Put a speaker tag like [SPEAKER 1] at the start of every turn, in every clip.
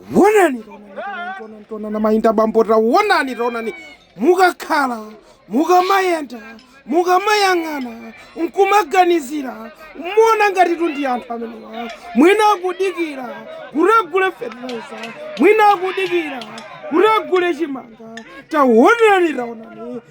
[SPEAKER 1] taonani taonani taonani mayi ndi abambo taonani taonani mukakhala mukamayenda mukamayang'ana nkumaganizira muona ngatitu ndi anthu amenewa mwina akudikira kukagula fertilizer mwina akudikira kukagula chimanga taonani taonani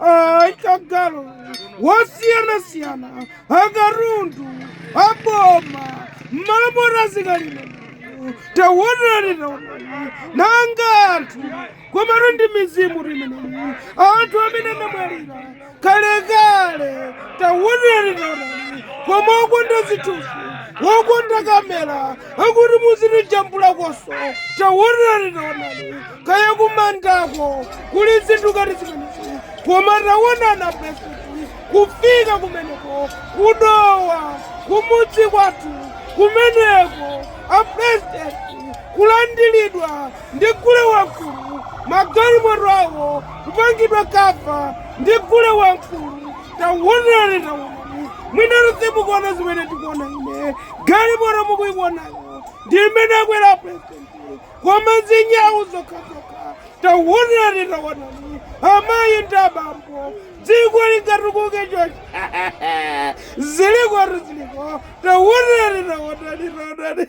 [SPEAKER 1] akagalu wosiyanasiyana akatundu aboma m'malomo zikadalipo tawonani tawonani nanga anthu komatu ndi mizimu imeneyi anthu amene anamwalira kalekale tawonani tawonani koma okonda zithunzi okonda kamera akuti muzitijambulakonso tawonani tawonani kaya kumandako kuli zinthu ngati zimenezi koma tawonani apurezidenti kufika kumeneko ku Dowa kumudzi kwathu kumeneko apurezidenti kulandiridwa ndi gule wamkulu magalimoto awo kupangidwa kava ndi gule wamkulu tawonani tawonani mwina simukuona zimene tikuona ine galimoto mukuiwonayo ndi imene akwera apurezidenti Koma zinyau zokhazokha tawonani tawonani amayi ndi abambo dziko lingatukuke chonchi zilikotu ziliko tawonani tawonani tawonani.